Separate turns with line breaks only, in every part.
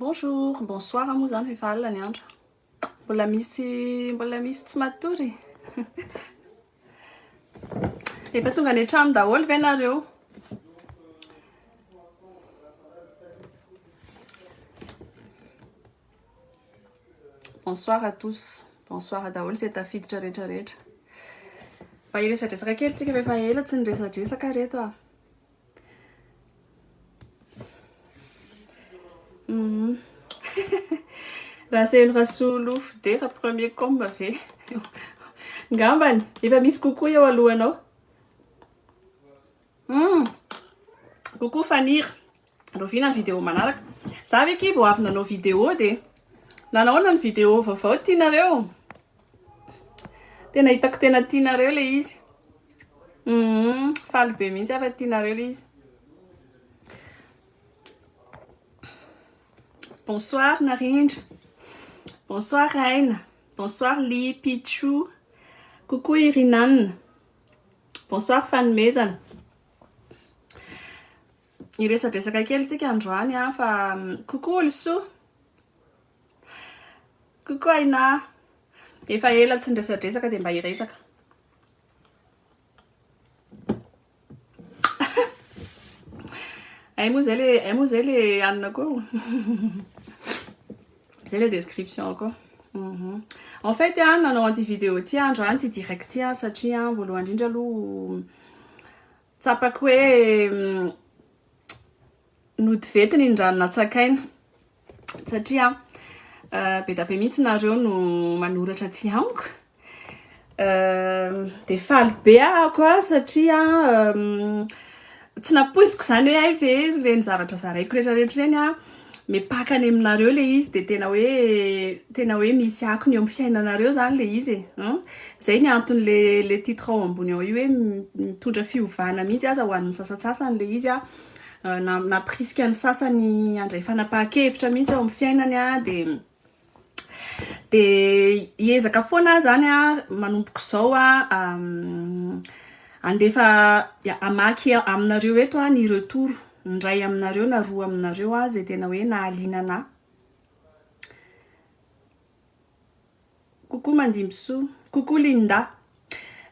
Bonjour, bonsoir moa izany fa efa alina ny andro. Mbola misy mbola misy tsy matory. Efa tonga any an-trano daholo ve nareo? Bonsoir à tous. Bonsoir daholo izay tafiditra rehetra rehetra. Mba hiresadresaka kely tsika fa efa ela tsy niresadresaka reto ah. Rasely Rasolofo Dera premier com ve? Ngambany efa misy kokoa eo alohanao. Hmm. Coucou Fanira. Rahoviana ny vidéo manaraka? Za ve ki vao avy nanao vidéo de nanaona ny vidéo vaovao tianareo? Tena hitako tena tianareo ilay izy. Hum, faly be mihitsy aho fa tianareo ilay izy. Bonsoir Narindra. Bonsoir Aina. Bonsoir Li Pichou. Coucou Irinanna. Bonsoir Fanomezana. Iresadresaka kely tsika androany fa coucou Olsoa. Coucou Aina, efa ela tsy niresadresaka dia mba hiresaka. Hay moa zay le hay moa zay le hanina koa o. Zay le description koa. Mhm. En fait an nanao an'ity vidéo ity aho androany ity direct ity an satria an voalohany indrindra aloha tsapako hoe mm, nody vety ny rano natsakaina. satria be da be mihitsy nareo no manoratra aty amiko de faly be ahako a satria tsy napoiziko zany hoe hay ve reny zavatra zaraiko rehetra rehetra reny a mipaka any aminareo le izy de tena hoe tena hoe misy akony eo amin'ny fiainanareo zany le izy e zay ny antony le le titre ao ambony ao io hoe mitondra fiovana mihitsy aza ho an'ny sasantsasany le izy a nampirisika ny sasany handray fanapahan-kevitra mihitsy ao amin'ny fiainany a dia dia hiezaka foana aho zany a manomboka izao a handefa hamaky aminareo eto a ny retour ny iray aminareo na roa aminareo a izay tena hoe nahaliana anà Coucou Mandimbisoa. Coucou Linda.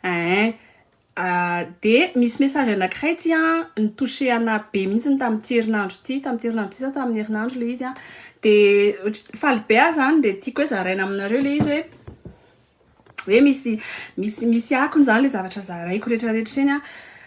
Eeh. Dia misy message anakiray ity an, ni-toucher ana be mihitsy ny tamin'ity herinandro ity, tamin'ity herinandro ity sa tamin'ny herinandro ilay izy an. Dia faly be aho izany dia tiako hoe zaraina aminareo ilay izy hoe, hoe misy, misy, misy akony izany ilay zavatra zaraiko rehetrarehetra ireny an.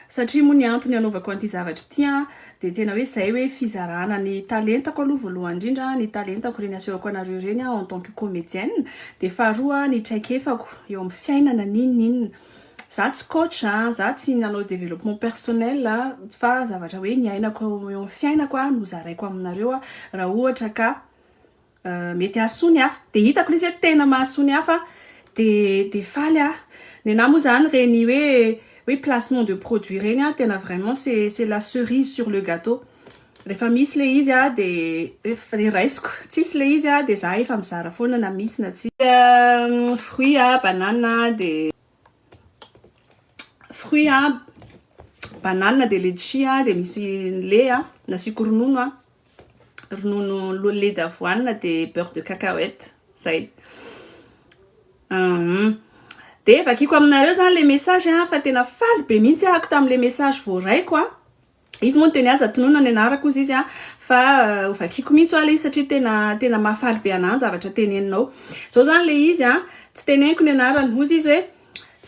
Satria moa ny antony anaovako an'ity zavatra ity an. Dia tena hoe izay hoe fizarana ny talentako aloha voalohany indrindra, ny talentako ireny asehoko anareo ireny en tant que comedienne, dia faharoa ny traikefako eo amin'ny fiainana n'inona n'inona. Za tsy coach a, za tsy nanao développement personnel a, fa zavatra hoe niainako eo amin'ny fiainako no zaraiko aminareo raha ohatra ka mety hahasoa ny hafa dia hitako ilay izy hoe tena mahasoa ny hafa dia dia faly aho nenahy moa izany ireny hoe hoe placement de produit ireny an tena vraiment c'est c'est la cerise sur le gâteau rehefa misy ilay izy an dia rehefa dia raisiko tsisy ilay izy an dia za efa mizara foana na misy na tsy fruit an banana dia fruit an banana dia letchis an dia misy ny lait an nasiako ronono an ronono lait d'avoine dia beurre de cacahuète zay hum dia vakiko aminareo zany le message an fa tena faly be mihitsy ahako tamin'le message voaraiko an izy moa ny teny aza tonona ny anarako ozy izy an fa ho vakiko mihitsy hoa le izy satria tena tena mahafaly be anahy ny zavatra teneninao zao zany le izy an tsy teneniko ny anarany hozy izy hoe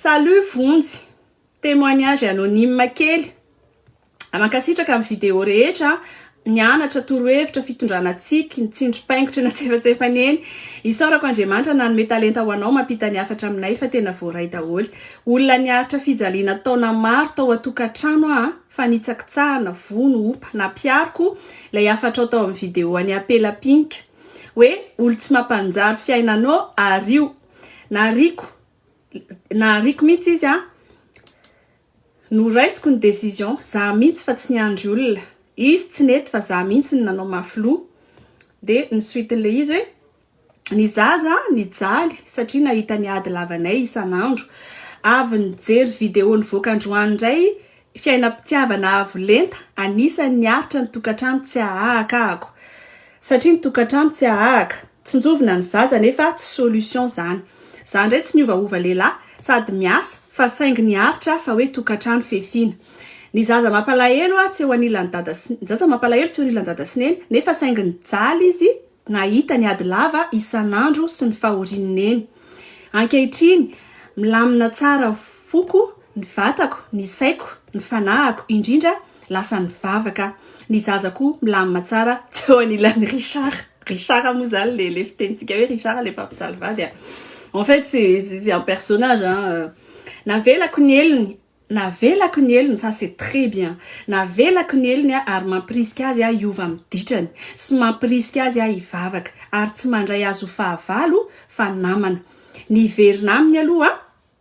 salut vonjy témoignage anonyme kely Mankasitraka amin'ny vidéo rehetra Nianatra torohevitra fitondrana tsiky ny tsindrim-paingotra natsefatsefany eny Isaorako Andriamanitra nanome talenta ho anao mampita ny hafatra aminay fa tena voaray daholo Olona niaritra fijaliana taona maro tao an-tokantrano aho fa nitsakitsahana, vono, opa, nampiariko ilay hafatrao tao amin'ny vidéo an'i Apela Pink hoe olon-tsy mampanjary fiainanao ario Nahariako Nahariako mihitsy izy an! Noraisiko ny decision, za mintsy fa tsy niandry olona, izy tsy nety fa za mintsy no nanao mafy loha, de ny suite n'le izy hoe ny zaza nijaly satria nahita ny ady lavanay isan'andro, avy nijery video nivoaka androany indray fiainam-pitiavana avo lenta, anisan'ny niaritra ny tokantrano tsy ahaakahako. Satria ny tokantrano tsy ahahaka. Tsinjovina ny zaza nefa tsy solution zany. Za ndray tsy miovaova lehilahy sady miasa fa saingy ny aritra fa hoe tokantrano fefiana. Ny zaza mampalahelo a tsy eo anilan'i dada sy ny zaza mampalahelo tsy eo anilan'i dada sy neny nefa saingy nijaly izy nahita ny ady lava isan'andro sy ny fahorian'i neny. Ankehitriny milamina tsara foko. Ny vatako, ny saiko, ny fanahiko, indrindra, lasa nivavaka. Ny zaza koa milamina tsara teo anilan'i Richard. Richard moa izany le le fitenintsika hoe Richard le mpampijaly vady a. En fait c'est c'est un personnage hein. Navelako ny helony, navelako ny helony, ça c'est très bien. Navelako ny helony aho ary mampirisika azy aho hiova amin'ny ditrany sy mampirisika azy aho hivavaka ary tsy mandray azy ho fahavalo fa namana. Niverina aminy aloha aho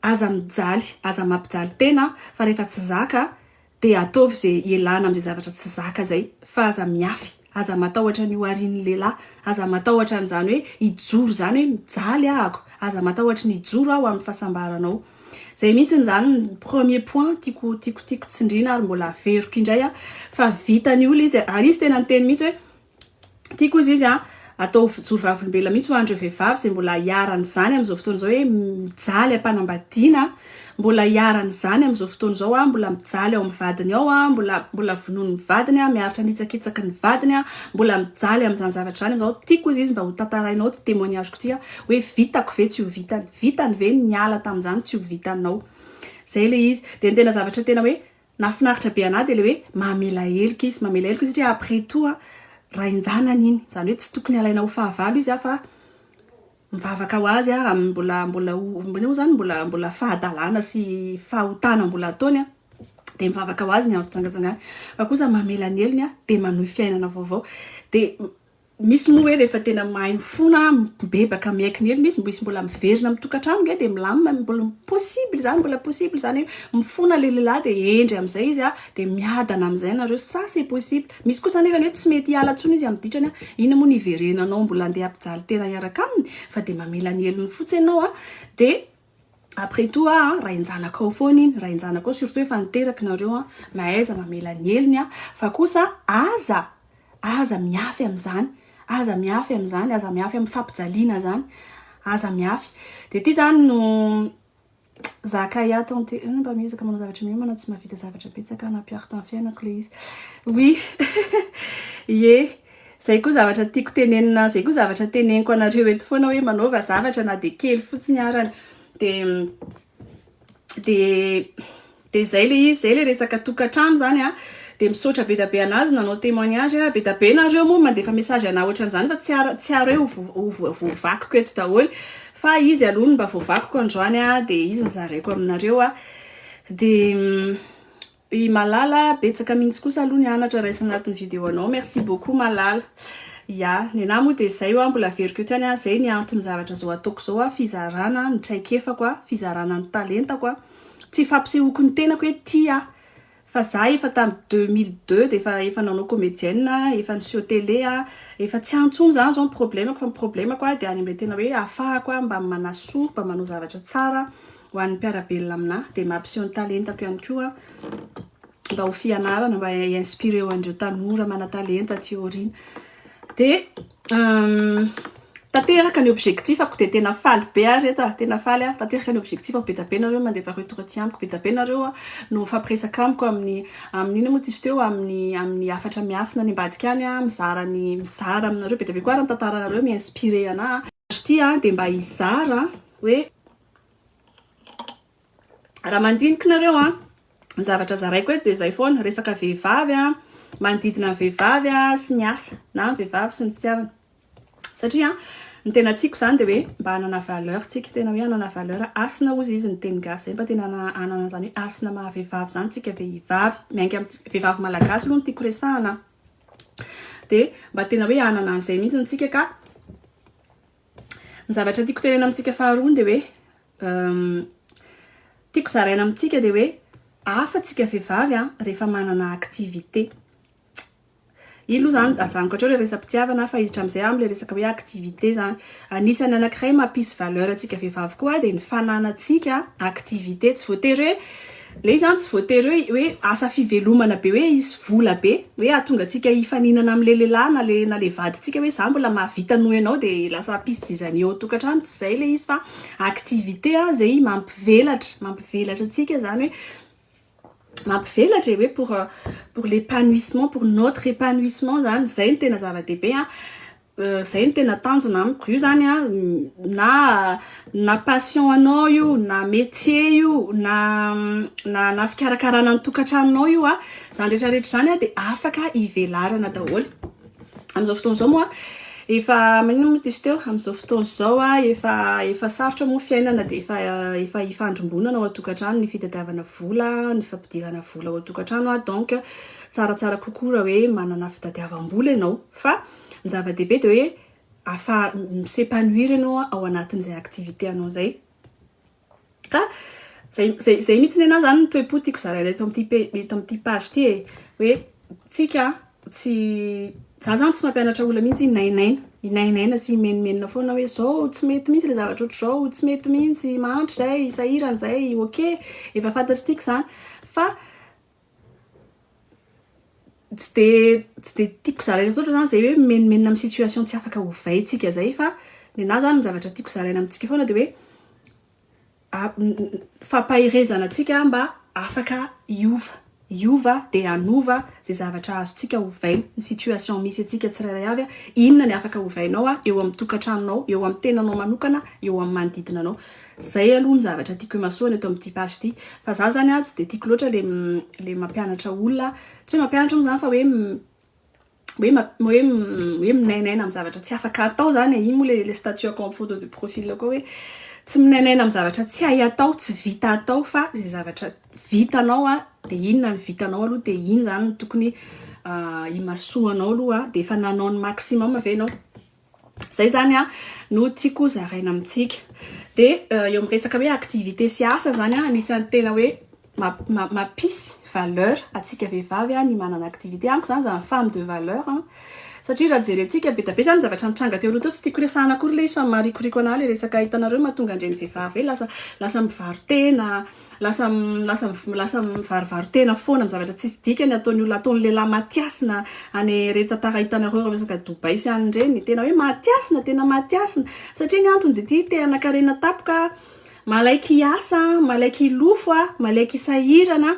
Aza mijaly, aza mampijaly tena fa rehefa tsy zaka dia ataovy ze ialana amzay zavatra tsy zaka zay fa aza miafy, aza matahotra ny ho arin'ny lehilahy, aza matahotra an'izany hoe hijoro zany hoe mijaly ahako, aza matahotra ny hijoro aho amin'ny fahasambaranao. Zay mihitsiny zany ny premier point tiako tiako tiako tsindriana ary mbola averiko indray aho fa vitan'ny olona izy ary izy tena niteny mihitsy hoe Ity koa izy izy an, atao vijoro vavolombelona mihitsy ho an'ireo vehivavy izay mbola iharan'izany amin'izao fotoana izao hoe mijaly am-panambadiana, mbola iharan'izany amin'izao fotoana izao an, mbola mijaly ao amin'ny vadiny ao an, mbola mbola vonoiny ny vadiny an, miaritra ny hitsakitsaky ny vadiny an, mbola mijaly amin'izany zavatra izany amin'izao. Tiako koa izy izy mba ho tantarainao ity témoignage-ko ity an, hoe vitako ve tsy ho vitany, vitany ve ny niala tamin'izany tsy ho vitanao. Izay ilay izy. Dia ny tena zavatra tena hoe Nahafinaritra be anah dia ilay hoe mamela heloka izy, mamela heloka izy satria après tout an, rain-janany iny, izany hoe tsy tokony alaina ho fahavalo izy an fa mivavaka ho azy an, amin'ny mbola mbola ho mbola hoy izany mbola mbola fahadalana sy fahotana mbola ataony an, dia mivavaka ho azy ny amin'ny fijangajangany fa kosa mamela ny helony an, dia manohy fiainana vaovao dia Misy moa hoe rehefa tena mahay mifona, mibebaka miaikin'irina izy, misy mbola miverina amin'ny tokantrano nge dia milamina, mbola possible izany, mbola possible izany hoe mifona ilay lehilahy dia hendry amin'izay izy a, dia miadana amin'izay ianareo, ça c'est possible, misy kosa anefany hoe tsy mety hiala intsony izy amin'ny ditrany a, inona moa no hiverenanao mbola andeha hampijaly tena hiaraka aminy, fa dia mamela ny helony fotsiny ianao a, dia Après tout a rainjanakao foana iny, rainjanakao surtout efa niteraky nareo a, mahaiza mamela ny helony a, fa kosa aza aza mihafy amzany, aza mihafy amzany, aza mihafy am fampijaliana zany, aza mihafy, de ty zany no zakay ato an ty, mba miezaka manao zavatra miomana, tsy mahavita zavatra betsaka, nampiaro tam fiainako le izy, oui ye. Zay koa zavatra tiako tenenina zay koa zavatra teneniko anareo eto foana hoe manaova zavatra na dia kely fotsiny arany dia dia dia zay le izy zay le resaka tokantrano zany a dia misaotra be dia be anazy nanao témoignage a be dia be nareo moa mandefa message anah ohatran'izany fa tsy ary tsy ary hoe ho vo- ho voavakiko eto daholo fa izy aloha no mba voavakiko androany a dia izy no zaraiko aminareo a dia I Malala betsaka mintsy kosa aloha ny anatra raisina anatin'ny video anao. Merci beaucoup Malala. Ya, ny anah moa dia zay oa mbola averiko eto ihany a, zay ny anton'ny zavatra zao ataoko zao a, fizarana ny traikefako a, fizarana ny talentako a, tsy fampisehoako ny tenako hoe tia aho fa za efa tam deux mille deux dia efa efa nanao comédienne a, efa niseho télé a, efa tsy any tsony zany zao ny problemako fa ny problemako a dia any amle tena hoe afahako a mba manasoa, mba manao zavatra tsara. Ho an'ny mpiara-belona aminà dia mampiseho ny talentako ihany koa mba ho fianarana mba hi-inspirer an'ireo tanora manan-talenta aty aoriana. Dia tanteraka ny objectif-ako dia tena faly be aho ry reto a! Tena faly aho, tanteraka ny objectif-ako, be dia be nareo mandefa retour aty amiko, be dia be nareo no mifampiresaka amiko amin'ny amin'ny inona moa ty izy teo, amin'ny amin'ny hafatra miafina any ambadika any a, mizara ny mizara aminareo, be dia be koa ary ny tantaranareo mi-inspirer anà. Azy ity dia mba hizara hoe. Raha mandinika nareo an, ny zavatra zaraiko eto dia izay foana, resaka vehivavy an, manodidina ny vehivavy an, sy ny asa na ny vehivavy sy ny fitiavana. Satria ny tena tiako izany dia hoe mba hanana valeur tsika, tena hoe hanana valeur, hasina hozy izy ny teny gasy, izay mba tena hanana izany hoe hasina maha vehivavy izany tsika vehivavy, miainga amin'ny vehivavy malagasy aloha no tiako resahana an, dia mba tena hoe hanana an'izay mihitsy tsika ka Ny zavatra tiako tenena amintsika faharoa dia hoe tiako zaraina amintsika dia hoe hafa tsika vehivavy a rehefa manana activité. Iny aloha zany ajanoko hatreo ilay resa-pitiavana fa izy hatramin'izay aho amin'ilay resaka hoe activité zany. Anisan'ny anankiray mampisy valeur antsika vehivavy koa dia ny fananantsika activité. Tsy voatery hoe Le izany tsy voatery hoe hoe asa fivelomana be hoe hisy vola be hoe hahatonga antsika hifaninana amle lehilahy na le na le vadintsika hoe za mbola mahavita noho ianao de lasa piste izany eo an-tokantrano tsy zay le izy fa activité a zay mampivelatra mampivelatra antsika zany hoe mampivelatra e hoe pour pour l'épanouissement pour notre épanouissement zany zay no tena zava-dehibe a. Zay no tena tanjona amiko. Io zany a na na passion anao io, na métier io, na na na fikarakarana ny tokantranonao io a, zany rehetra rehetra zany a de afaka ivelarana daholo. Am'zao fotoana zao moa efa maninona moa diso teo, am'zao fotoana zao a efa efa sarotra moa fiainana de efa efa ifandrimbonana ao an-tokantrano ny fitadiavana vola, ny fampidirana vola ao an-tokantrano a donc tsaratsara kokoa raha hoe manana fitadiavam-bola ianao fa Ny zava-dehibe dia hoe afa mi-s'epanouir ianao ao anatin'izay activité anao izay. Ka izay izay izay mihitsy nenahy izany no toe-po tiako zaraina eto amin'ity eto amin'ity page ity e. Hoe tsika tsy za izany tsy mampianatra olona mihitsy hinainaina, hinainaina sy himenomenona foana hoe izao tsy mety mihitsy ilay zavatra ohatr'izao, tsy mety mihitsy, mahantra izay, sahirana izay, ok, efa fantatr'tsika izany fa Tsy dia tsy dia tiako zaraina loatra izany izay hoe mimenomenona amin'ny situation tsy afaka ovaintsika izay fa ny anah izany ny zavatra tiako zaraina amintsika foana dia hoe fampaherezana antsika mba afaka hiova, hiova dia hanova izay zavatra azontsika ovaina. Ny situation misy antsika tsirairay avy, inona ny afaka ovainao eo amin'ny tokantranonao, eo amin'ny tenanao manokana, eo amin'ny manodidina anao. Zay aloha ny zavatra tiako imasoana eto amin'ity page ity. Fa za zany an, tsy dia tiako loatra le le mampianatra olona, tsy hoe mampianatra moa zany fa hoe hoe hoe hoe minainaina amin'ny zavatra tsy afaka atao zany e, iny moa le le statuako amin'ny photo de profil koa hoe tsy minainaina amin'ny zavatra tsy hay atao, tsy vita atao fa ze zavatra vitanao an, de inona ny vitanao aloha de iny zany no tokony imasoanao aloha, de efa nanao ny maximum ve enao? Izay izany no tiako ho zaraina amintsika. Dia eo amin'ny resaka hoe activité sy asa izany, anisan'ny tena hoe mampisy valeur antsika vehivavy ny manana activité. Amiko izany izany femme de valeur. Satria raha jerentsika, be dia be izany ny zavatra nitranga teo aloha teo. Tsy tiako resahina akory ilay izy fa marikoriko anà ilay resaka hitanareo mahatonga an-dreny vehivavy hoe lasa mivaro-tena. Lasa lasa lasa mivarivary tena foana amin'ny zavatra tsisy dikany ataon'ny olona ataon'ny lehilahy matiasina any ireny tantara hitanareo ireo resaka Dubaï sy any ireny tena hoe matiasina tena matiasina satria ny antony dia ity te hanakarena tapoka malaiky hiasa malaiky hilofo a malaiky hisahirana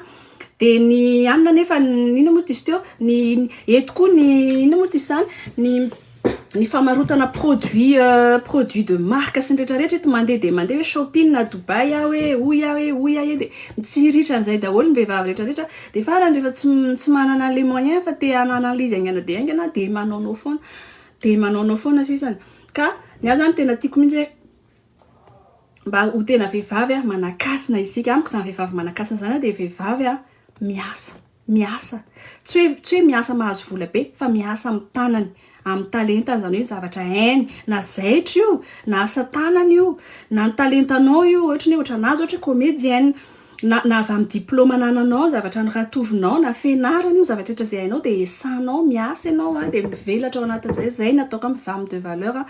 dia ny anona nefa inona moa diso teo ny eto koa ny inona moa diso izany ny Ny famarotana produit produit de marque sy ny rehetra rehetra eto mandeha dia mandeha hoe shopping na Dubaï aho e hoy aho e hoy aho e dia mitsiriritra an'izay daholo ny vehivavy rehetra rehetra dia farany rehefa tsy tsy manana an'ilay moyen fa te hanana izy haingana dia haingana dia manaonao foana dia manaonao foana sisany ka ny ahy zany tena tiako mihitsy hoe mba ho tena vehivavy aho manakasina isika amiko izany vehivavy manakasina izany aho dia vehivavy aho miasa Miasa. Tsy hoe tsy hoe miasa mahazo vola be fa miasa amin'ny tanany, amin'ny talentany, izany hoe ny zavatra hainy, na zaitra io, na asa tanana io, na ny talentanao io, ohatra ny hoe ohatra an'azy ohatra comédienne, na na avy amin'ny diplôme anananao, ny zavatra noratovinao, na fianarana io, zavatra rehetra izay hainao dia esanao, miasa ianao a, dia mivelatra ao anatin'izay, izay no ataoko hoe ny femme de valeur,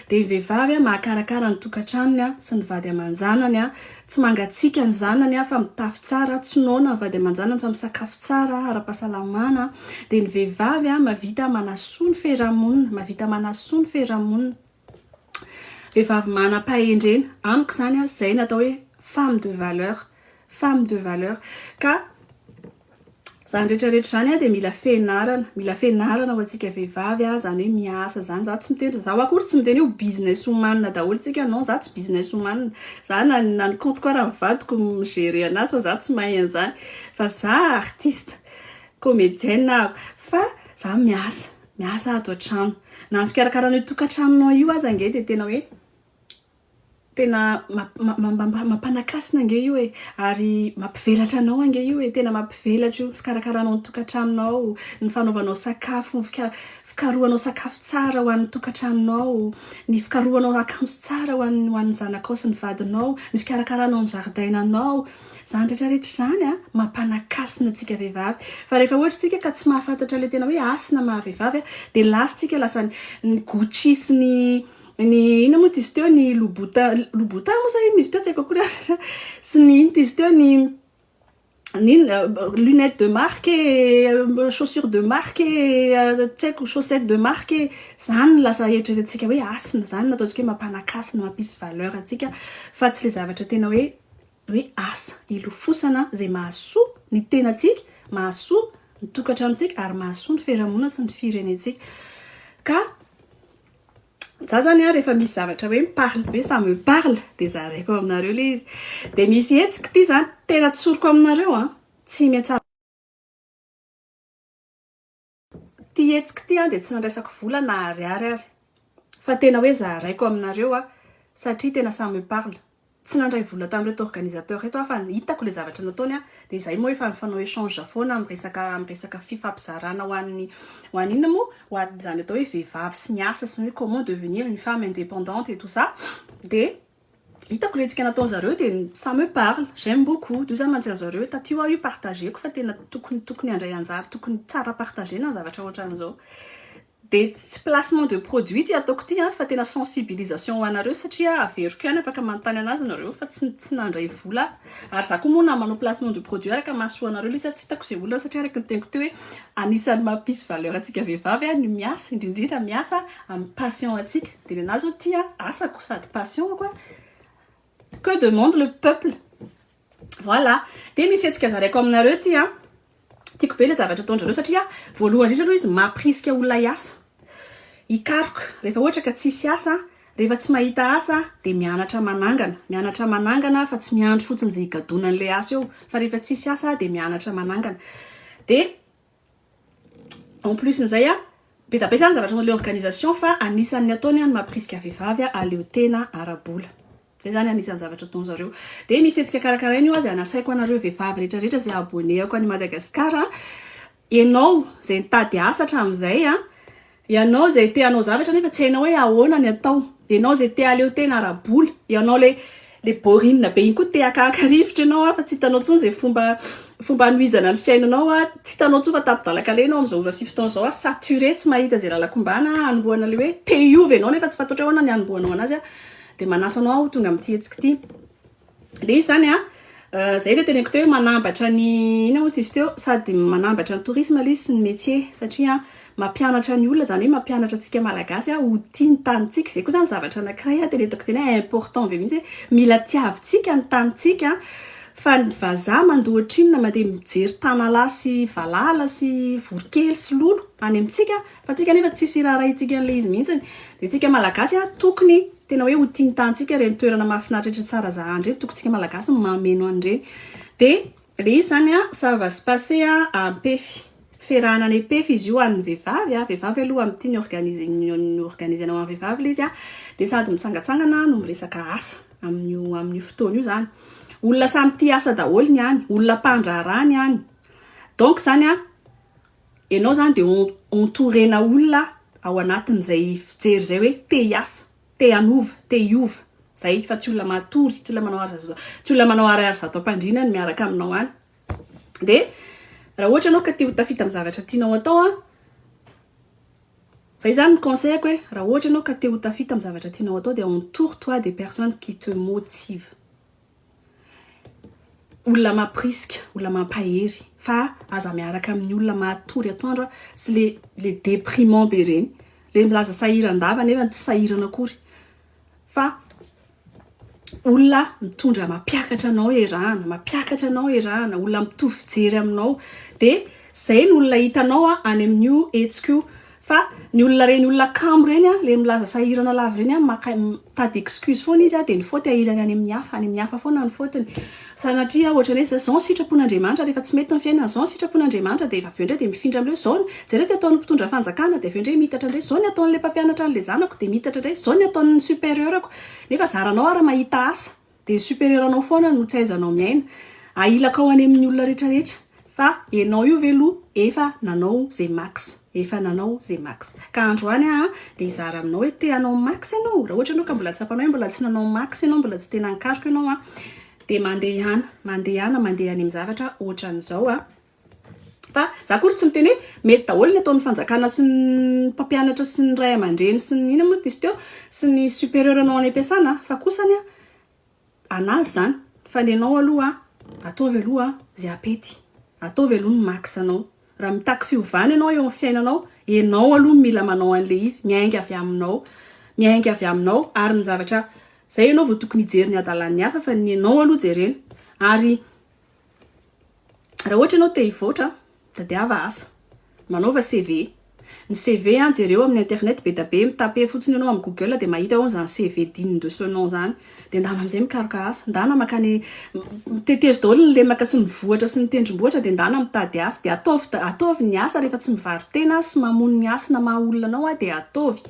dia ny vehivavy mahakarakara ny tokantranony sy ny vady aman-janany. Tsy mangatsiaka ny zanany an, fa mitafy tsara, tsy noana ny vady aman-janany fa misakafo tsara, ara-pahasalamana an, dia ny vehivavy an, mahavita manasoa ny feramonina, mahavita manasoa ny feramonina, vehivavy manam-pahendrena, amiko izany an, izay no atao hoe femme de valeur, femme de valeur, ka. Zany rehetra rehetra zany a de mila fenarana, mila fenarana ho antsika vehivavy a, zany hoe miasa zany, za tsy miteny, zaho akory tsy miteny hoe business woman daholo tsika, non za tsy business woman, za na na ny compte ko ara ny vadiko no mi gerer anazy fa za tsy mahay an'zany, fa za artiste, comedienne aho, fa za miasa, miasa ato an-trano, na ny fikarakarana io tokantranonao io aza ange de tena hoe. Tena mampanakasina ange io e! Ary mampivelatra anao ange io e! Tena mampivelatra io, ny fikarakaranao ny tokantranonao, ny fanaovanao sakafo, ny fikarohanao sakafo tsara ho an'ny tokantranonao, ny fikarohanao akanjo tsara ho an'ny zanakao sy ny vadinao, ny fikarakaranao ny zaridainanao. Izany rehetra rehetra izany an, mampanakasina antsika vehivavy. Fa rehefa ohatra isika ka tsy mahafantatra ilay tena hoe hasina maha vehivavy dia lasa isika lasa ny Gucci sy ny Ny inona moa t'izy teo, ny Lobota, Lobota moa sa inona izy teo, tsy haiko akory an, sy ny inona t'izy teo, ny inona, lunettes de marque e, chaussures de marque e, tsy haiko, chaussettes de marque e, izany no lasa eritreretintsika hoe hasina, izany no ataontsika hoe mampanaky hasina, mampisy valeur antsika, fa tsy ilay zavatra tena hoe hoe asa hilofosana izay mahasoa ny tenantsika, mahasoa ny tokantranontsika ary mahasoa ny fiarahamonina sy ny firenentsika ka. za zany a rehefa misy zavatra hoe miparle hoe ça me parle de zaraiko aminareo le izy de misy hetsiky ty zany tena tsoriko aminareo a tsy miantsa ty hetsiky ty a de tsy nandraisako vola na ariary ary fa tena hoe zaraiko aminareo a satria tena ça me parle Tsy nandray vola tamin'ireto organisateurs reto aho fa ny hitako ilay zavatra nataony a, dia izahay moa efa mifanao échange foana amin'ny resaka amin'ny resaka fifampizarana ho an'ny ho an'ny inona moa? ho an'izany atao hoe vehivavy sy ny asa sy ny hoe comment devenir une femme indépendante et tout ça dia hitako ilay hetsika nataony zareo dia ça me parle, j'aime beaucoup d'où ça mantsy an'i zareo, taty ho aho io partageko fa tena tokony tokony handray anjara tokony tsara partagena ny zavatra ohatran'izao. Dia tsy placement de produit ity ataoko ity an, fa tena sensibilisation ho anareo satria averiko ihany afaka manontany anazy nareo fa tsy tsy nandray vola aho. Ary za koa moa na manao placement de produit araka mahasoa anareo le izy tsy hitako izay olana satria araka ny teniko teo hoe anisany mampisy valeur antsika vehivavy an ny miasa indrindra indrindra miasa amin'ny passion antsika. Dia nenazy zao ity an asako sady passion-ko an, que demande le peuple? Voilà. Dia misy hetsika zaraiko aminareo ity an. Tiako be ilay zavatra ataondrareo satria voalohany indrindra aloha izy mampirisika olona hiasa. Hikaroka. Rehefa ohatra ka tsisy asa, rehefa tsy mahita asa dia mianatra manangana. Mianatra manangana fa tsy miandry fotsiny izay higadonan'ilay asa eo fa rehefa tsisy asa dia mianatra manangana. Dia. En plus n'izay a, be da be zany zavatra ataon'le organisation fa anisan'ny ataony a ny mampirisika vehivavy a aleo tena ara-bola. Zay zany anisan'ny zavatra ataony zareo. Dia misy hetsika karakaraina io a, zay anasaiko anareo vehivavy rehetra rehetra zay abonné-ako any Madagascar a, enao zay nitady asa hatramin'izay a, Ianao izay te hanao zavatra nefa tsy hainao hoe ahoana ny atao. Ianao izay te hahaleo tena ara-bola. Ianao ilay ilay borinina be iny koa te haka-haka rivotra ianao an, fa tsy hitanao intsony izay fomba fomba hanohizana ny fiainanao an, tsy hitanao intsony fa tapi-dalan-kaleha ianao amin'izao ora sy fotoana izao an, saturé tsy mahita izay làlako ombàna an, hanombohana ilay hoe te hiova ianao nefa tsy fantatrao hoe ahoana ny hanombohanao an'azy an, dia manasa anao aho ho tonga amin'ity hetsika ity. Ilay izy izany an, izay ilay teneniko teo hoe manambatra ny, inona moa izy teo, sady manambatra ny tourisme ilay izy sy ny métier, satria an, mampianatra ny olona, izany hoe mampianatra antsika Malagasy an, ho tia ny tanintsika. Izay koa izany zavatra anankiray an, teneniko teny hoe important be mihitsy hoe, mila tiavintsika ny tanintsika an, fa ny vazaha mandoa ohatrinona, mandeha mijery tanalahy sy valala sy voronkely sy lolo any amintsika an, Fa tsika nefa tsisy raharahintsika an'le izy mihintsiny. De tsika malagasy a tokony tena hoe ho tintantsika ireny toerana mahafinaritraitr'i Tsarazahan ireny, tokony tsika malagasy no mameno an'ireny. De le izy zany a ça va se passer a Ampefy. Ferahana any Ampefy izy io an'ny vehivavy a, vehivavy aloha amin'ny tiany organiser ny organiser-na ho an'ny vehivavy le izy a, de sady mitsangatsangana no miresaka asa amin'io amin'io fotoana io zany. Olona samy tia asa daholo ny any, olona mpandraharaha ny any. Donc zany a Enao zany de entourena olona ao anatin zay fijery zay hoe te hiasa, te hanova, te hiova, zay fa tsy olona matory, tsy olona manao ara zato, tsy olona manao ariary zato ampandriana ny miaraka aminao any. De raha ohatra enao ka te ho tafita amin'ny zavatra tianao atao an, zay zany ny conseil ko hoe raha ohatra enao ka te ho tafita amin'ny zavatra tianao atao de entoure toi des personnes qui te motivent. olona mampirisika, olona mampahery fa aza miaraka amin'ny olona matory atoandro sy le le déprimant be reny, le milaza sahiran-dava nefa tsy sahirana akory fa olona mitondra mampiakatra anao erahana, mampiakatra anao erahana, olona mitovy fijery aminao, de zay ny olona hitanao any amin'io hetsika io Fa ny olona reny olona kamo reny a, le milaza sahirana lava reny a, maka mitady excuse foana izy a, de ny faute ahilany any amin'ny hafa, any amin'ny hafa foana ny faute-ny. Sanatria ohatrany hoe zao ny sitrapon'Andriamanitra, rehefa tsy mety ny fiainana, zao ny sitrapon'Andriamanitra, de avy eo indray de mifindra amle zao ny, jereo ty ataon'ny mpitondra fanjakana, de avy eo indray miitatra indray, zao ny ataon'le mpampianatra an'le zanako, de miitatra indray, zao ny ataon'ny superieur-ko, nefa zaranao ary mahita asa. Dia super-héros-nao foana no tsy aizanao miaina. Ahilakao any amin'ny olona rehetra rehetra. Fa enao io ve loha efa nanao ze max. Efa nanao ze max. Ka androany aho dia hizara aminao hoe te hanao max enao? Raha ohatra enao ka mbola tsapanao hoe mbola tsy nanao max enao, mbola tsy tena nikaroka enao, dia mandehana, mandehana, mandeha any amin'ny zavatra ohatran'izao. Fa za akory tsy miteny hoe mety daholo ny ataon'ny fanjakana sy ny mpampianatra sy ny ray aman-dreny sy ny inona moa izy teo sy ny superieur nao any am-piasana a, fa kosa anie anà izany fa ny anao aloha ataovy aloha izay hapety, ataovy aloha ny max anao, raha mitaky fiovana ianao eo amin'ny fiainanao, ianao aloha no mila manao an'ilay izy, miainga avy aminao, miainga avy aminao ary ny zavatra, izay ianao vao tokony hijery ny hadalan'ny hafa fa ny anao aloha jerena ary. Raha ohatra ianao te hivoatra, tadiava asa. Manaova CV. Ny CV, jereo amin'ny internet be dia be, mi-taper fotsiny ianao amin'ny google dia mahita eo izany CV digne de ce nom izany. Dia ndana amin'izay mikaroka asa. Ndana makany, tetezo daholo ny lemaka sy ny vohitra sy ny tendrombohitra dia ndana mitady asa. Dia ataovy, ataovy ny asa rehefa tsy mivaro-tena sy mamono ny hasina maha olona anao dia ataovy.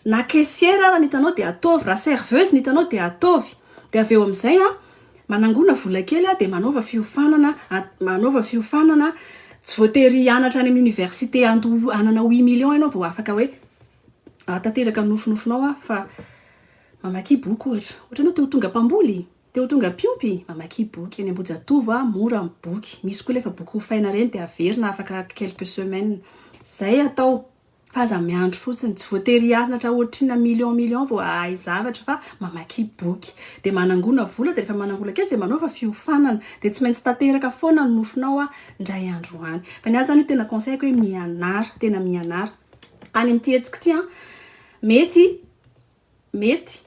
Na caissière ara ny hitanao dia ataovy, raha serveuse ny hitanao dia ataovy. Dia avy eo amin'izay an, manangona vola kely an, dia manaova fiofanana, manaova fiofanana, tsy voatery hianatra any amin'ny université handoa hanana huit millions ianao vao afaka hoe hahatateraka ny nofinofinao an, fa mamakia boky ohatra. Ohatra ianao te ho tonga mpamboly, te ho tonga mpiompy, mamakia boky. Any Ambohijatovo an, mora ny boky. Misy koa anefa boky hofaina ireny dia averina afaka quelques semaines. Izay atao. Fa aza miandry fotsiny, tsy voatery hianatra ohatrina million million vao hahay zavatra fa mamakia boky. Dia manangona vola dia rehefa manangona kely dia manaova fiofanana. Dia tsy maintsy tanteraka foana ny nofinao an, indray andro any. Fa ny ahy izany io tena conseil-ko hoe mianara, tena mianara. Any amin'ity hetsiko ity an, mety, mety.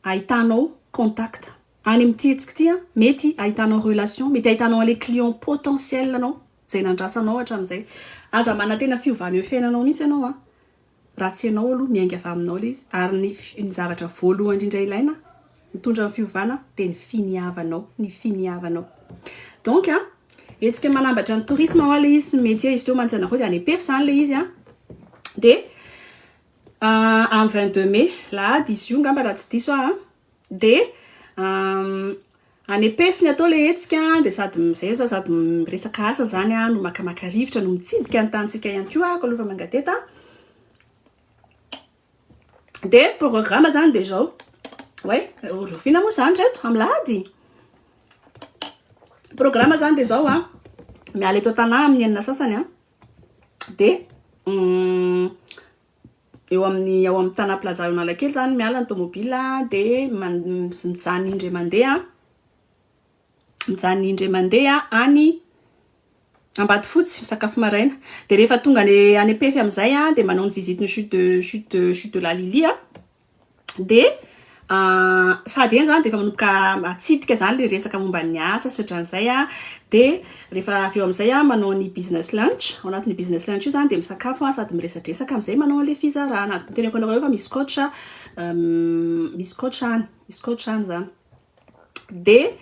ahitanao contact any amin'ity hetsika ity an, mety ahitanao relation, mety ahitanao an'ilay client potentiel anao, izay nandrasanao hatramin'izay. Aza manantena fiovana eo fiainanao mihitsy ianao an, raha tsy ianao aloha miainga avy aminao ilay izy, ary ny ny zavatra voalohany indrindra ilaina mitondra ny fiovana dia ny finiavanao, ny finiavanao. Donc an, hetsika manambatra ny tourisme hoa ilay izy sy ny métier izy teo mantsy anareo dia any EPEF izany ilay izy an, dia. An vingt deux mai, lahady izy io ngamba raha tsy diso aho an, dia any Pef no atao ilay hetsika dia sady izay aho sady miresaka asa izany aho no makamaka rivotra no mitsidika ny tanintsika ihany koa aho alofa manga teto an. Dia ny programa izany dia izao, oay rahoviana moa izany ry reto amin'ny lahady? Ny programa izany dia izao an, miala eto an-tanà amin'ny enina sasany an, Dia eo amin'ny ao amin'ny Tanà Plaza ao Analakely izany, miala ny tômôbila dia mijanona indray mandeha, mijanona indray mandeha any Ambatofotsy misakafo maraina. Dia rehefa tonga any Ampefy amin'izay dia manao ny visitin'ny chute de chute de chute de la Lily aho. Dia sady eny izany dia efa manomboka atsidika izany ilay resaka momba ny asa sy ohatran'izay an, dia rehefa avy eo amin'izay an, manao ny business lunch, ao anatin'io business lunch io izany dia misakafo an, sady miresadresaka amin'izay manao an'ilay fizarana. Teneniko anareo fa misy coach, misy coach any, misy coach any izany. Dia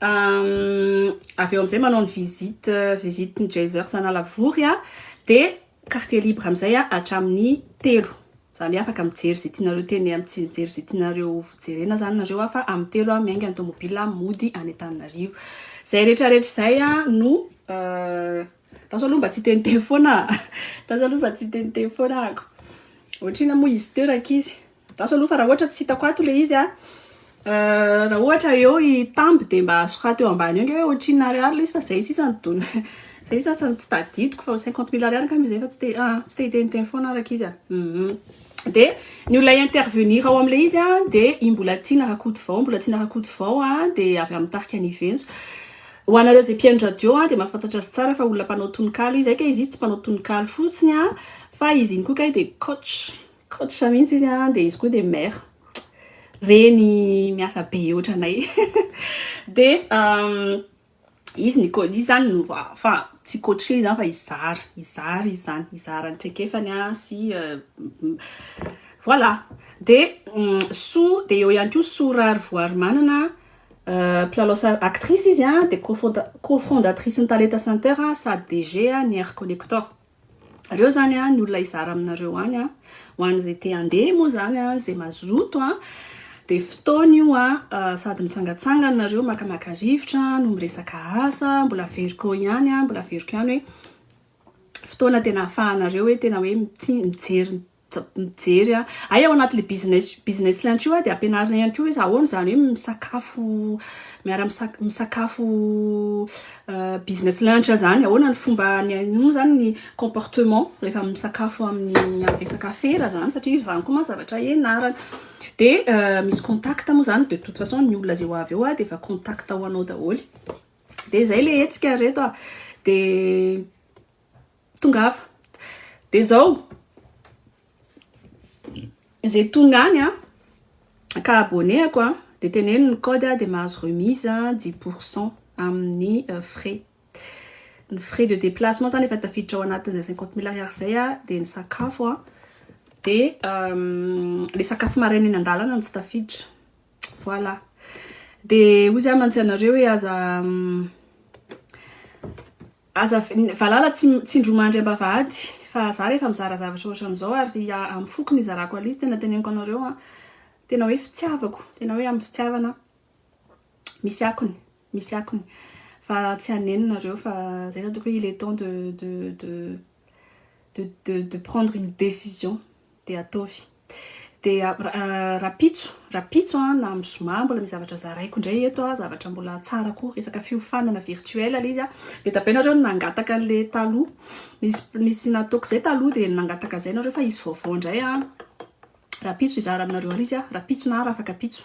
avy eo amin'izay manao ny visite visite ny Geysers Analavory aho dia quartier libre amin'izay aho hatramin'ny telo. Za anie afaka mijery izay tianareo teneno sy mijery izay tianareo jerena izany nareo aho fa amin'ny telo aho miainga ny tomobila mody any Antananarivo. Izay rehetra rehetra izay no lasa aloha mba tsy hiteniteny foana aho. Lasa aloha mba tsy hiteniteny foana ahako. Ohatrina moa izy teo rankizy? Andaso aloha fa raha ohatra tsy hitako ato ilay izy an! Raha ohatra eo i Tamby dia mba soraty eo ambany eo ange hoe ohatrinona ariary ilay izy fa izay sisa no dona. Izay sisa no tsy tadidiko fa cinquante mille ariary angamba izay fa tsy te ah, tsy te hiteniteny foana araka izy an! Dia ny olona hi-intervenir ao amin'ilay izy an dia i Mbolatiana Rakotovao, Mbolatiana Rakotovao an dia avy amin'ny tarika Aniventso. Ho anareo izay mpihaino radio an dia mahafantatra azy tsara fa olona mpanao tononkalo izy, hay kay izy izy tsy mpanao tononkalo fotsiny an fa izy iny koa kay dia coach. Coach mihitsy izy an, dia izy koa dia mère reny miasa be otranay dia izy ny coach izy zany no fa tsy coacher izy zany fa hizara hizara izy zany hizara ny traikefany an sy voilà dia Soa dia eo ihany koa Soa Rarivoarimanana mpilalao sary actrice izy an dia co-fondatrice ny Talenta Center sady DG ny Air Connector. Reo zany an ny olona hizara aminareo any an, ho an'izay te handeha moa zany an, izay mazoto an, dia fotoana io an, sady mitsangatsangana nareo makamaka rivotra no miresaka asa, mbola averiko ihany an, mbola averiko ihany hoe fotoana tena afahanareo hoe tena hoe mijery mijery a. Hay ao anatin'io business business lunch io dia ampianarina ihany koa izy ahoana izany hoe misakafo miara misakafo misakafo business lunch izany, ahoana ny fomba moa izany ny comportement rehefa misakafo amin'ny resaka afera izany satria izany koa mantsy zavatra ianarana. Dia misy contact moa izany de toute façon ny olona izay ho avy eo dia efa contact ho anao daholo. Dia izay ilay hetsika ry reto a. Dia. Tongava. Dia izao, izay tonga any an, ka abonné-ako an, dia teneno ny code an, dia mahazo remise dix pour cent amin'ny frais. Ny frais de déplacement izany efa tafiditra ao anatin'izay cinquante mille ariary izay an, dia ny sakafo an, dia ilay sakafo maraina eny an-dalana no tsy tafiditra. Voilà. Dia hoy izy aho mantsy anareo hoe aza Aza valala tsindromandry ambavahady fa za rehefa mizara zavatra ohatran'izao ary amin'ny foko no izarako an'izy tena teneniko anareo an, tena hoe fitiavako, tena hoe amin'ny fitiavana misy akony, misy akony fa tsy haneno nareo fa zay zany tokony hoe il est temps de de de de de prendre une décision. Dia ataovy. Dia rapitso, rapitso an, na amin'ny zoma mbola misy zavatra zaraiko indray eto an, zavatra mbola tsara koa, resaka fiofanana virtuel ilay izy an. Be dia be nareo no nangataka an'ilay taloha. Nisy, nisy nataoko izay taloha dia nangataka an'izay nareo fa hisy vaovao indray an. Rapitso hizara aminareo ary izy an, rapitso na rafakapitso.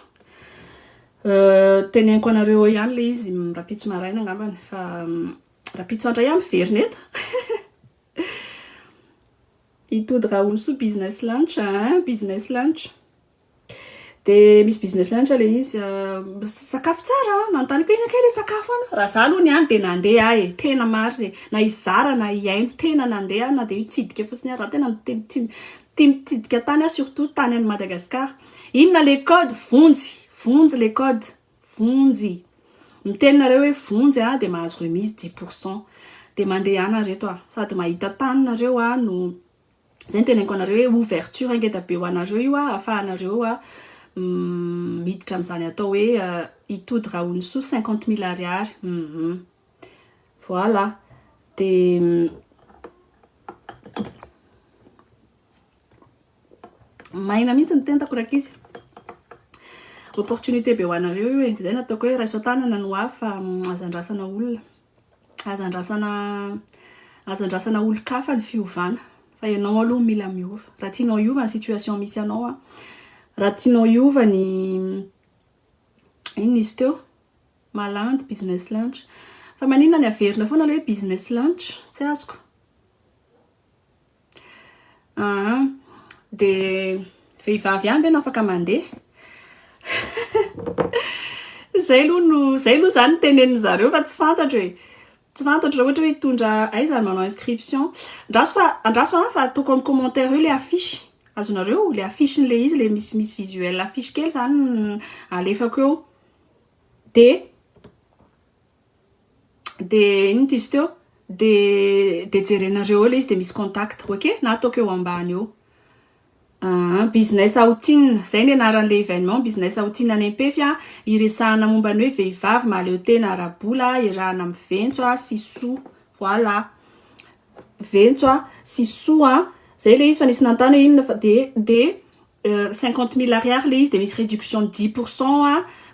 Teneniko anareo eo ihany ilay izy rapitso maraina angambany fa rapitso andray an miverina eto. I Tody Raholosoa business lunch a, business lunch de misy business lunch le izy sakafo tsara a, nanotaniko hoe ina kay le sakafo any, raha za aloha ny any de nandeha aho e, tena marina e, na hizara na hihaino tena nandeha aho na de hitsidika fotsiny ary za tena tia mitsidika tany aho surtout tany any Madagascar, inona le code, vonjy, vonjy le code. Vonjy. Miteny nareo hoe vonjy a de mahazo remise dix pour cent. De mandehana reto a. Sady mahita tany nareo a no zay no teneniko anareo hoe ouverture ngeda be ho anareo io a afahanareo a miditra amzany atao hoe i Tody Rahonisoa cinquante mille ariary. Hum. Voilà. De. Maina mihitsy ny tentako rankizy. Opportunité be ho anareo io e. Izay nataoko hoe raiso an-tanana ny ho avy fa aza andrasana olona. Aza andrasana aza andrasana olon-kafa ny fiovana fa ianao aloha no mila miova. Raha tianao hiova ny situation misy anao a. Raha tianao hiova ny inona izy teo? Malandy business lunch. Fa maninona ny averina foana ilay hoe business lunch? Tsy azoko. Aa de vehivavy ihany ve no afaka mandeha? Zay aloha no zay aloha zany no tenenin zareo fa tsy fantatro e! Tsy fantatro raha ohatra hoe hitondra aiza ny manao inscription. Andraso fa andraso an fa ataoko amin'ny commentaire eo le affiche azonareo le affiche n'le izy le misy misy visuel affiche kely zany alefako eo de. de inona ity izy teo de de jerenareo eo le izy de misy contact ok na ataoko eo ambany eo aa business outing zay ny anaran'le evenement business outing any ampefy a iresahana momba ny hoe vehivavy mahaleo tena ara-bola iarahana amin'ny ventso a sy soa voilà ventso a sy soa a zay le izy fa nisy nanontany hoe inona fa de de Cinquante mille ariary le izy de misy reduction dix pour cent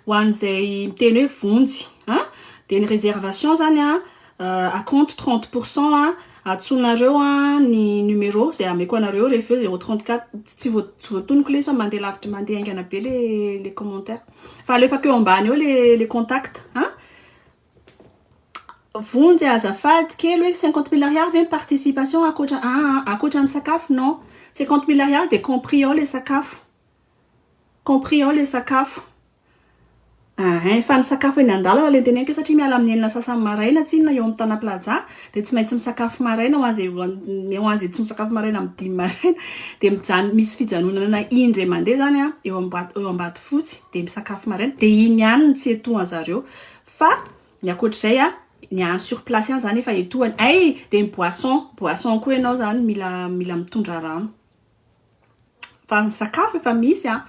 ho an'izay miteny hoe vonjy a! de ny reservation zany a acompte trente pour cent a! atsonareo a! ny numero zay ameko anareo eo rehefa eo zero trente quatre tsy voa- tsy voatoniko le izy fa mandeha lavitra mandeha haingana be le le commentaire fa alefako eo ambany eo le le contact a! Vonjy azafady kely hoe cinquante mille ariary ve ny participation ankoatra aa ankoatra ny sakafo non cinquante mille ariary dia compris ao ilay sakafo compris ao ilay sakafo ahh fa ny sakafo eny andalana ilay noteneniko satria miala amin'ny enina sasany maraina tsinona eo amin'ny tana plaza dia tsy maintsy misakafo maraina ho an'izay ho an'izay tsy misakafo maraina amin'ny dimy maraina dia mijanona misy fijanonana indray mandeha izany an eo ambatofotsy dia misakafo maraina dia iny ihany no tsy etohan-dry zareo Fa ny ankoatra izay a, ny any sur place ihany izany efa etoana. Hay dia ny boisson, boisson koa ianao izany mila mila mitondra rano. Fa ny sakafo efa misy a.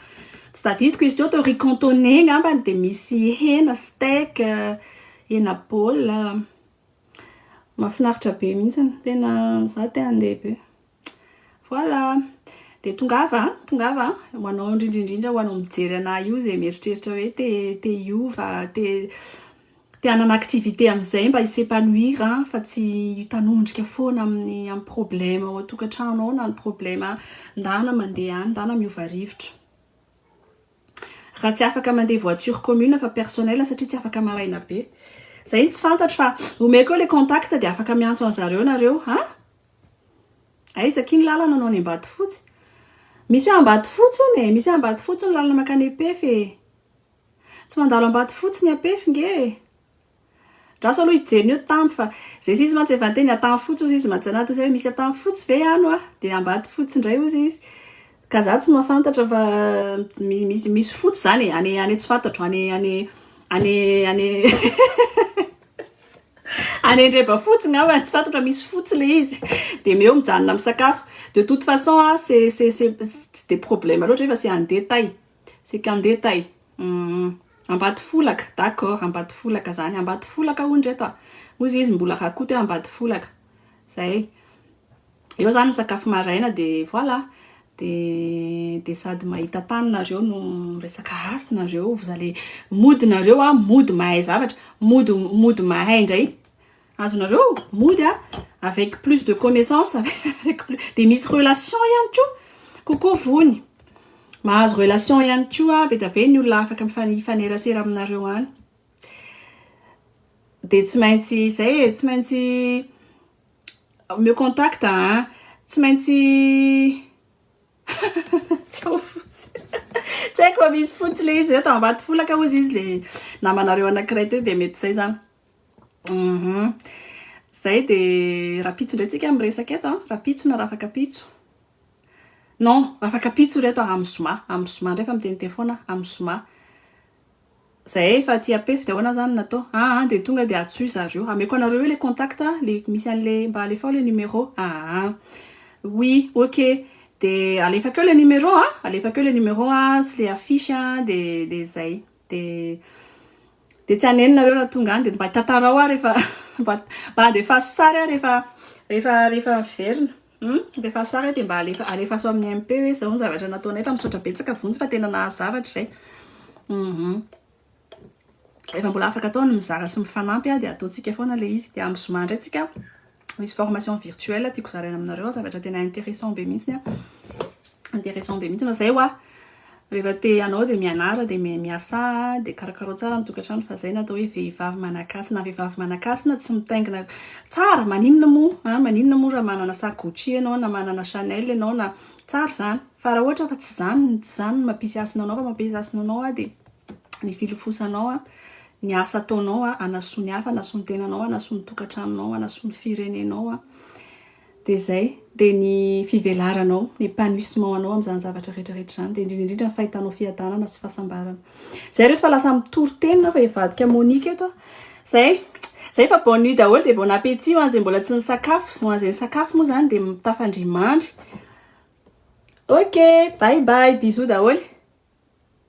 Tsy tadidiko izy teo tao riz cantonais angambany dia misy hena, steak, hena baolina. Mahafinaritra be mihitsy. Tena izaho te handeha be. Voilà! Dia tongava a, tongava a, ho anao indrindra indrindra ho anao mijery anah io izay mieritreritra hoe te te hiova, te te hanana activité amin'izay mba hi s'épanouir fa tsy hitanondrika foana amin'ny amin'ny problème ao an-tokantrano ao na ny problème ndana mandeha any ndana miova rivotra. Raha tsy afaka mandeha voiture commune fa personnel satria tsy afaka maraina be. Izay no tsy fantatro fa omeko eo ilay contact dia afaka miantso an'zareo nareo an! Aiza akia ny lalana anao any ambatofotsy? Misy hoe ambatofotsy hono e, misy hoe ambatofotsy ny lalana makany Epef e. Tsy mandalo ambatofotsy ny Apef nge e. Andraso aloha hijery ny hoe tamby fa zay sisa mantsy efa niteny Antanfotsy ozy izy mantsy anaty ozy hoe misy Antanfotsy ve any hoa? Dia ambatofotsy indray ozy izy. Ka za tsy mahafantatra fa misy misy foot zany e, any any tsy fantatro any any any any any Andrebafotsy ngamba tsy fantatro fa misy fotsy le izy de meo mijanona misakafo de toute façon a c'est c'est c'est tsy de problème loatra nefa c'est en détail c'est qu'en détail Ambatofolaka d'accord Ambatofolaka zany Ambatofolaka hono ry reto a hoy izy mbola rakoto hoe Ambatofolaka zay. Eo zany misakafo maraina de voilà. De de sady mahita tany nareo no miresaka hasy nareo, vous allez mody nareo a, mody mahay zavatra, mody mody mahay ndray azonareo mody a avec plus de connaissance avec plus de misy relation ihany koa kokoa vony mahazo relation ihany koa be dia be ny olona afaka mifanerasera aminareo any de tsy maintsy izay e tsy maintsy Omeo contact a! Tsy maintsy Tsy ao fotsy Tsy haiko fa misy fotsy le izy reto ambato folaka hozy izy le namanareo anakiray teo de mety zay zany hum zay de rapitso ndray tsika miresaka eto an rapitso na rafakapitso non rafakapitso reto amin'ny zoma amin'ny zoma ndray fa miteniteny foana amin'ny zoma Zay efa tsy apef de ahoana zany no atao? aa de tonga de atsoy zareo hameko anareo eo le contact le misy anle mba alefao le numero aa oui ok de alefako eo le numero a alefako eo le numero a sy le affiche a de de zay de de tsy haneno nareo raha tonga any de mba tantarao aho rehefa mba mba andefaso sary aho rehefa rehefa rehefa miverina Humm rehefa sary a de mba alefa alefaso amin'ny MP hoe zao ny zavatra nataonay fa misaotra betsaka vonjy fa tena nahazo zavatra izay humm rehefa mbola afaka atao ny mizara sy mifanampy a de ataontsika foana le izy de amin'ny zoma indray tsika misy formation virtuelle tiako zaraina aminareo zavatra tena interessant be mihitsy ny a interessant be mihitsy fa zay hoa. Rehefa te hanao dia mianara dia miasaa dia karakarao tsara ny tokantrano fa zay no atao hoe vehivavy manakasina vehivavy manakasina tsy mitaingina tsara maninona moa an maninona moa raha manana sac Gucci ianao na manana Chanel ianao na tsara zany fa raha ohatra fa tsy zany tsy zany no mampisy hasina anao fa mampisy hasina anao an dia ny filofosanao an ny asa ataonao an hanasoa ny hafa hanasoa ny tenanao hanasoa ny tokantranonao hanasoa ny firenenao an Dia izay, dia ny fivelaranao, ny épanouissement anao amin'izany zavatra rehetra rehetra izany, dia indrindra indrindra ny fahitanao fiadanana sy fahasambarana. Izay ry reto fa lasa mitory teny na fa hivadika Monique eto aho. Izay, izay fa bonne nuit daholo dia bon appétit ho an'izay mbola tsy nisakafo, ho an'izay nisakafo moa izany dia tafandry mandry. Ok, bye bye, bisous daholo e.